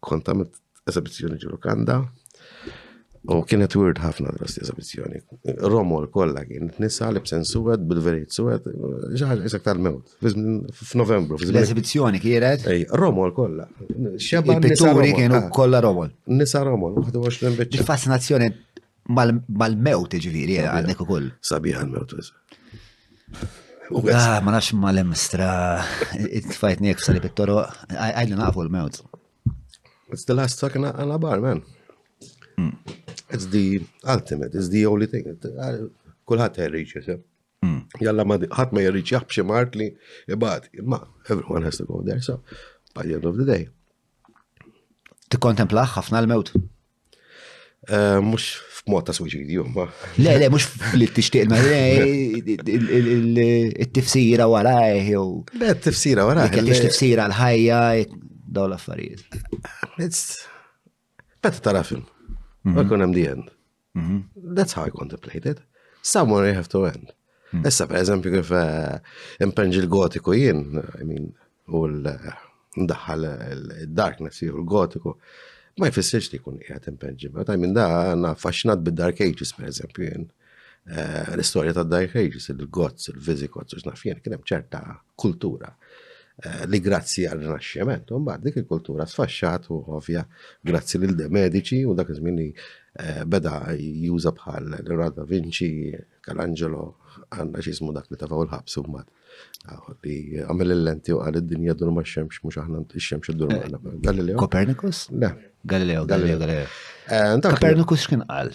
Kont għamilt eżabizzjoni ġu Lukanda u kienet weird ħafna l-osti eżabizzjoni. Romol kollha kien nisa li bsen suwed bil-verit suwed, ġaħġa isek tal-mewt, f'Novembru. L-eżabizzjoni kienet? Ej, Romol kollha. Xebba pitturi kienu ah. kollha Romol. Nisa Romol, 21 biċċa. Fascinazzjoni Mal-mewt, ġviri, għandek u koll. Sabiħ għal-mewt, Ah, ma nafx ma l-emstra, it-fajt nek f'sali pittoro, għajli nafu l-mewt. It's the last fucking għana bar, man. Hmm. It's the ultimate, it's the only thing. Kulħat għerriċ, jisib. Hmm. Jalla ma ħat ma jgħerriċ jaħbxie mart li jibad, ma everyone has to go there, so by the end of the day. Tikkontemplaħ ħafna l-mewt? Eh, mux f'mod ta' suicidju, ma. Le, le, mux li t-tixtiq, ma il-tifsira wara, eh, jew. Le, t-tifsira wara. Kien eh, tifsira l-ħajja, daw l-affarijiet. Meta tara film, ma mhm. kun hemm the end. Mhm. That's how I contemplated. Somewhere you have to end. Mhm. Issa, per eżempju, kif impenġi l-gotiku jien, I mean, u l-ndaħħal il-darkness jew il-gotiku, ma jfissirx li jkun qiegħed impenġi. Meta minn da għandna faxxinat bid-Dark Ages, pereżempju jien. Eh, l-istorja tad Dark Ages, il-Gots, il-Visigots, u x'naf jien, kien hemm ċerta kultura eh, li grazzi għal rinaxximent, u mbagħad dik il-kultura sfaxxat u ovvja grazzi lil de medici u dak iż-żmien li eh, beda juża bħal Leonardo da Vinci, Calangelo, għandna x'ismu dak li tafaw il-ħabs u mbagħad Li għamil il-lenti u għal id-dinja dur ma' xemx, mux aħna xemx id-dur ma' Galileo. Copernicus? Le. Galileo, Galileo, Galileo. Eh, Copernicus xkien għal?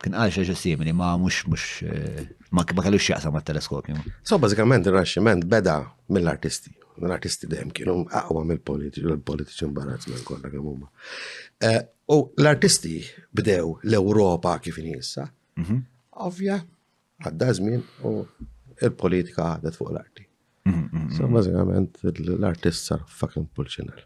Kien għal xaġa simili, ma' mux, mux, eh, ma' kellu xieqsa ma' teleskopju. So, bazzikament, il-raxximent beda mill-artisti. L-artisti dem kienu aqwa mill-politiċi, l-politiċi mbarazz minn kolla kemm huma. Eh, u l-artisti bdew l-Ewropa kif injissa, mhm. ovvja, Għadda żmien u il-politika għadet fuq l-arti. So, bażikament l-artist sar fucking pulċinel.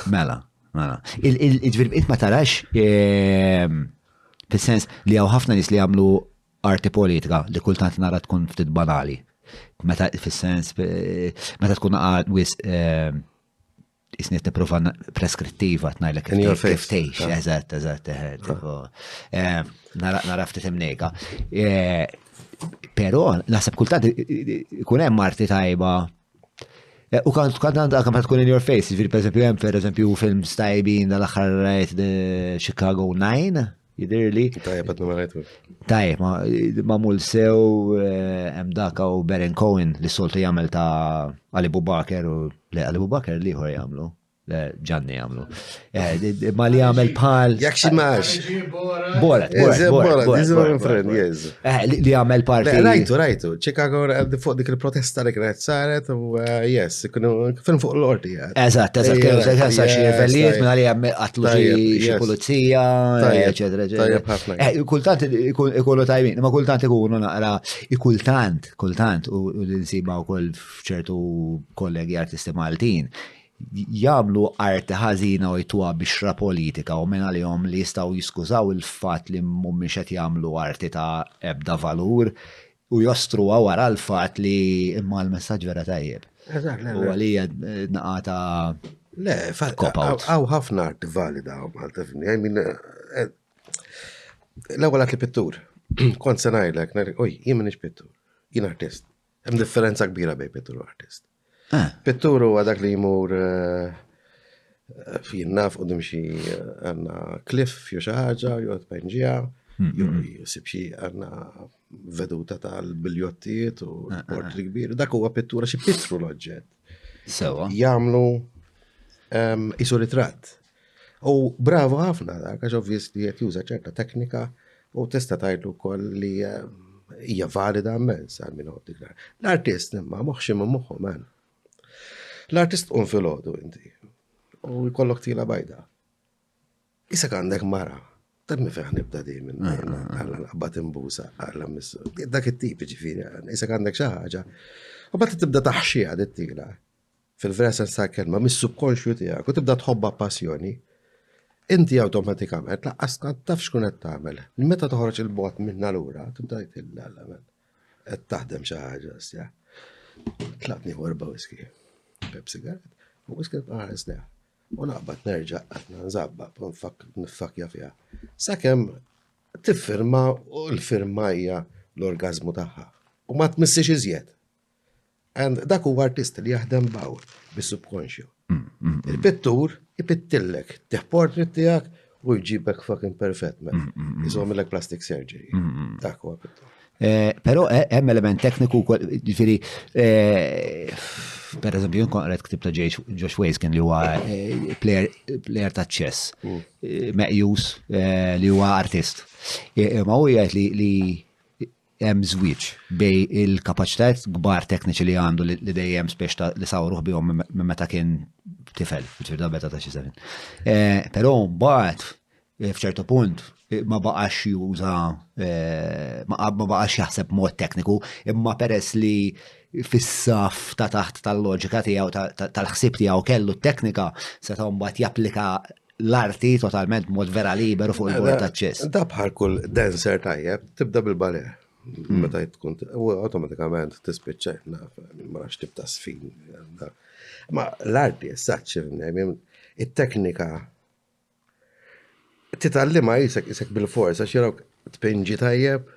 Mela, mela. Il-ġvirbiet ma tarax fil-sens li għaw ħafna nis li għamlu arti politika li kultant nara tkun ftit banali. Meta fil-sens, meta tkun għad wis Isni t-niprofa preskrittiva t-najlek kif tejx, eżat, eżat, naraf t timnejka. Pero, nasib kultant kun hemm marti tajba. Eh, u kant kant għandha kemm tkun in your face, ġifieri pereżempju hemm pereżempju film stajbin dal-aħħar rajt Chicago 9. jidirli. Tajjeb għat numerajtu. Tajjeb, ma mul sew eh, hemm daka u Beren Cohen li soltu jagħmel ta' Ali Bubaker u le Ali Bubaker li ħor jagħmlu. Ġanni għamlu. Eh, ma li għamel pal. Jak xi max. Borat, borat, borat. Eh, li għamel pal. Rajtu, rajtu. Chicago fuq dik il-protesta li kienet saret u yes, kienu fuq l-ordi. Eżatt, eżatt, Ejja, eżatt, eżatt, xi yes, livellijiet tajjeb. minn għalija qatlu xi- Tajjeb, xi yes. pulizija, Tajjeb, eċetera, eċetera. tajjeb ħafna. Eh, Kultant ikun- ikunu tajbin, ma kultant ikunu naqra, kultant, kultant, u u li nsiba wkoll f'ċertu kollegi artisti Maltin, jagħmlu arti ħażina u jtuha bixra politika u minn għalihom li jistgħu jiskużaw il-fatt li mhumiex qed jagħmlu arti ta' ebda valur u jostruha wara l-fatt li imma l-messaġġ vera tajjeb. Eżatt, le. U għalija naqata. Le, għaw ħafna arti valida u Malta fini. I mean, eh, l-ewwel li pittur. Kont se ngħidlek, oj, jien minix pittur. Jien artist. Hemm differenza kbira bej pittur u artist. Pittur huwa dak li jmur fin naf u dimxi għanna kliff jew xi ħaġa jew tpenġija jew jsib xi għanna veduta tal-biljottijiet u portri kbir. Dak huwa pittura xi pittru l-oġġett. Sewa. Jagħmlu isu ritratt. U bravu ħafna dak, għax ovvjis li qed juża ċerta teknika u tista' tgħidlu wkoll li eh, hija valida immens għal min dik L-artist imma moħxi minn moħħu man. L-artist qum fil-ħodu inti u jkollok tila bajda. Isek għandek mara, ta' mi feħ nibda di minn ah, ah, ah. għalla naqbat imbusa, għalla missu. Dak it-tip ġifiri, isek għandek xaħġa. U bat tibda taħxija dit-tila. fil-vera sens tal-kelma, mis-subkonxju tiegħek u tibda tħobba passjoni, inti awtomatikament laqqas taf xkun qed tagħmel. Meta toħroġ il-bot minn allura, tibda jtilla l-għamel. Qed taħdem xi ħaġa, sja. Tlaqni warba whisky. Pep sigaret. U whisky tqaħres leha. U naqbad nerġa' qatna nżabba, nifakja fiha. Sakemm tiffirma u l-firma hija l-orgazmu tagħha. U ma tmissiex iżjed. And dak huwa artist li jaħdem baw bis-subkonxju. Mm, mm, mm. Il-pittur ipittillek, teħ portrait tiegħek u jġibek fucking perfett men. Iżomilek plastic surgery. Dak huwa pittur. Eh, Pero eh, hemm element tekniku ġifieri eh, per eżempju jien kon qed ktib ta' Josh Ways kien li huwa player ta' chess meqjus li huwa artist. Ma huwa jgħid li hemm żwieġ bejn il-kapaċitajiet kbar tekniċi li għandu li dejjem spiex li sawruh bihom minn meta kien tifel, ġifieri ta' meta ta' xi żmien. Eh, però mbagħad eh, f'ċertu punt eh, ma baqax juża ma baqax jaħseb mod tekniku, imma peress li fis-saf ta' taħt tal-loġika tiegħu tal-ħsieb tiegħu kellu t-teknika se mbagħad japplika l-arti totalment mod vera liberu fuq il-bord ta' ċess. Da bħal kull dancer tajjeb, tibda bil-bale. Hmm. Meta tkun, u automatikament tispiċċa, ma nafx tibda sfin. Ma l-arti, s-saċ, il-teknika, titallima jisek, jisek bil-forza, xirok tpinġi tajjeb,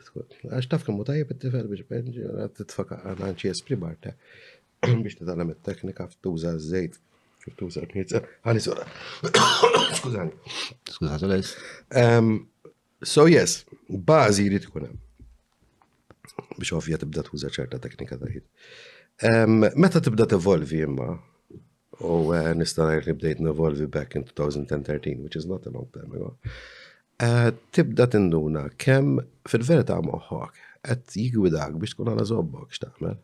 għax taf kemmu tajjeb it-tifel biex tpinġi, titfaka għanċi espri barta. biex titgħallem it-teknika f'tuża żejt kif tuża l-knizza. Għani sura. Skużani. Skuża tal-es. So yes, bażi jrid ikun hemm. Biex ovvja tibda tuża ċerta teknika ta' ħid. Meta tibda tevolvi imma, u eh, nista' ngħid li bdejt nevolvi back in 2013, which is not a long time ago. Eh, tibda tinduna kemm fil-verità moħħok qed jigwidak biex tkun għala zobbok x'tagħmel.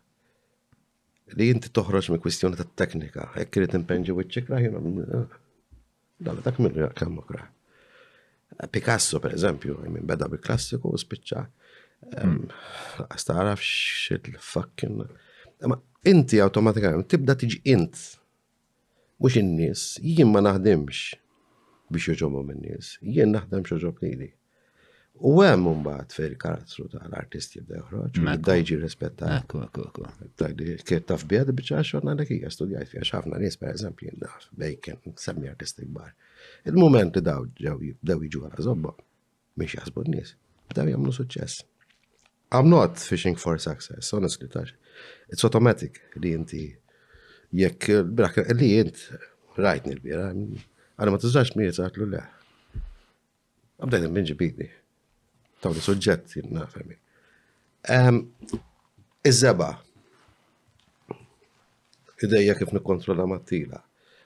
li inti toħroġ minn kwistjoni ta' teknika, hekk irid impenġi wiċċek raħjun dalla dak minn rjaq kemm okra. Picasso, per eżempju, minn beda bi klassiku u spiċċa. Għastaraf hmm. xit l-fakkin. Ma inti automatikament tibda tiġi int. Mhux in-nies, jien ma naħdimx biex joġobhom in-nies, jien naħdem x'oġob lili. U hemm imbagħad fejn il-karattru tal-artist jibda joħroġ, jibda jiġi rispettat. Ekku, ekku, ekku. Kiet taf bija di biċċa xogħol għandek hija studjajt fiha ħafna nies pereżempju jien naf bejken semmi artisti kbar. Il-mument li daw ġew jibdew jiġu għal żobbhom. Mhix jaħsbu n-nies. Bdew jagħmlu suċċess. I'm not fishing for success, honestly, tax. It's automatic li inti jekk brak li int rajtni l-bira, għana ma tiżax mi jizartlu le. Għabdajt minn ġibidni. Tawni suġġett jinna fermi. Ehm, iż-żeba. Idejja kif nikkontrolla mat-tila.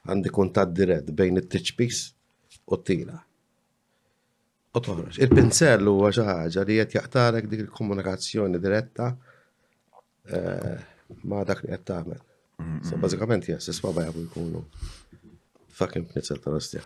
Għandi kuntat dirett bejn it-tiċpis u t-tila. u toħroġ. Il-pinsell huwa xi ħaġa li qed jaqtarek dik il-komunikazzjoni diretta eh, ma' dak li qed tagħmel. So bażikament jes, isma' bajja jkunu fucking pinsell tal-ostja.